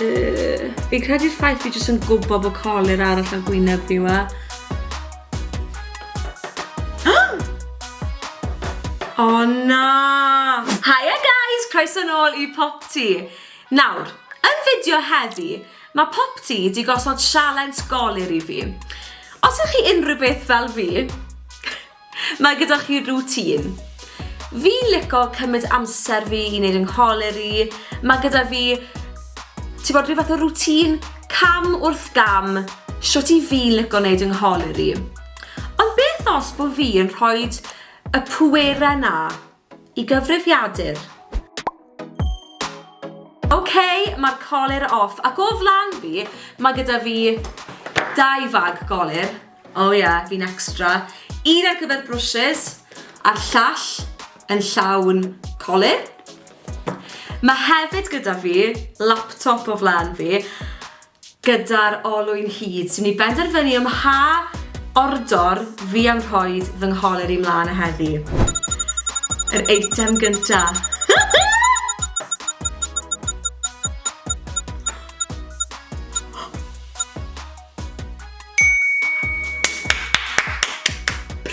Yy, fi'n credu'r ffaith fi jyst yn gwybod bod colir arall ar gwyneb fi wa. O oh, na! Hiya guys, croeso nôl i Popty. Nawr, yn fideo heddi, mae Popty di gosod sialens golir i fi. Os ych chi unrhyw beth fel fi, Mae gyda chi routine? Fi'n lico cymryd amser fi i neud yng ngholer i, mae gyda fi, ti bod, rhyw fath o routine cam wrth gam shwt i fi'n lico neud yng ngholer i. Ond beth os bo fi yn rhoid y pwere na Y gyfrifiadur. Ok, mae'r colur off. Ac o flan fi, mae gyda fi dau fag golur. O oh, ie, yeah, fi'n extra. Un ar gyfer brwsys, a'r llall yn llawn colur. Mae hefyd gyda fi laptop o flan fi. Gyda'r olwyn hud, dw ni benderfynu ym mha ordor fi am rhoid fy ngholer i mlân a heddi. Yr eitem gynta.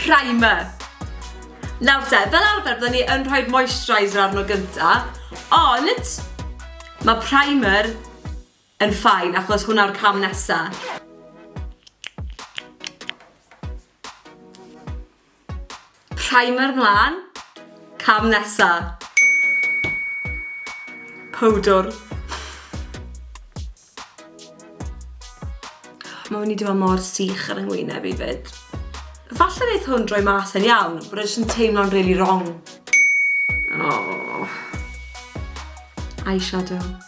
Primer. Nawr te, fel arfer bydden ni yn rhoi'r moisturiser arno gynta, ond mae primer yn fine achos hwnna yw'r cam nesa. Primer mlan. Cam nesa. Powdwr. Mae wedi dweud mor sych ar yngwyneb i fyd. Falle wneud hwn droi mas yn iawn, bod e'n teimlo'n really wrong. Oh. Eyeshadow.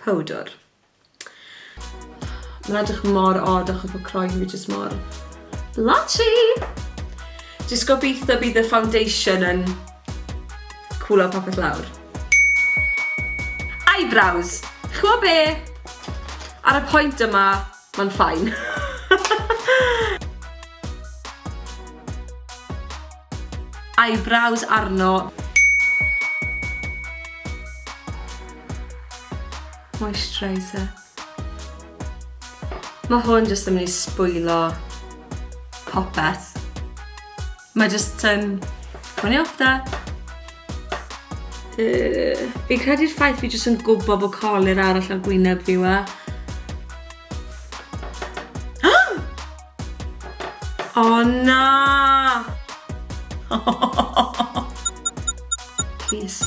powdwr. Mae'n edrych mor od achos bod croen fi jyst mor blotchy! Jyst gobeithio bydd y foundation yn cwlo popeth lawr. Eyebrows! Chwa be? Ar y pwynt yma, Mae'n ffain. Eyebrows arno. Moisturiser. Mae hwn jyst yn mynd i sbwylio popeth. Mae jyst yn... Mae'n ei ofda. Uh, fi'n credu'r ffaith fi jyst yn gwybod bod colir arall ar gwyneb fi wa. O oh, na! Please.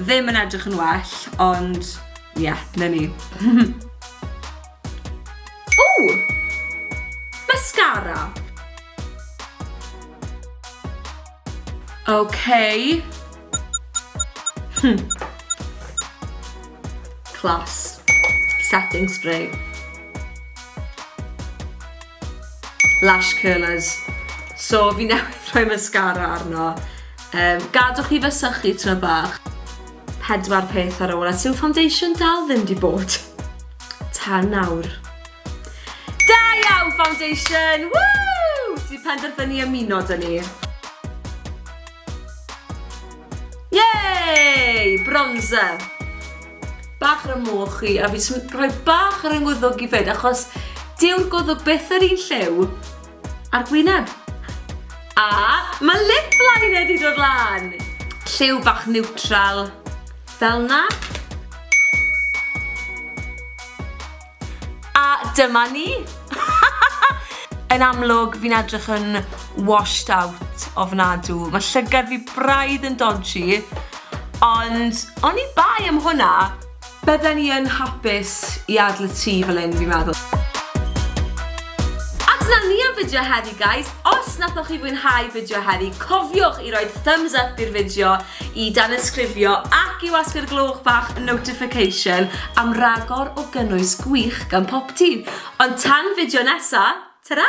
Ddim yn edrych yn well, ond ie, yeah, na ni. Ww! Mascara! Okay. Hmm. Class. Setting spray. Lash curlers. So fi newydd rhoi mascara arno. Yym, gadwch chi fysychu tro bach. Pedwar peth ar ôl a siw foundation dal ddim di bod. Tan nawr. Da iawn, foundation! Woo! Ti penderfynu ymuno dyn ni. Yay! Bronzer. Bach ar y moch chi, a fi jyst yn rhoi bach ar yng ngwddwg i fyd, achos dyw'r gwddwg byth yr un lliw. A'r gwyneb. A mae lip liner di dod lan! Lliw bach neutral, fel na. A dyma ni! Yn amlwg, fi'n edrych yn washed out ofnadw. Mae llygad fi braidd yn dodgy, ond oni bai am hwnna, Bydden i yn hapus i adl y tŷ fel hyn fi'n meddwl. A dyna ni am fideo heddi guys, os nathoch chi fwynhau fideo heddi cofiwch i roi thumbs up i'r fideo, i danysgrifio ac i wasgu'r gloch bach notification am ragor o gynnwys gwych gan Popty. Ond tan fideo nesa, tara!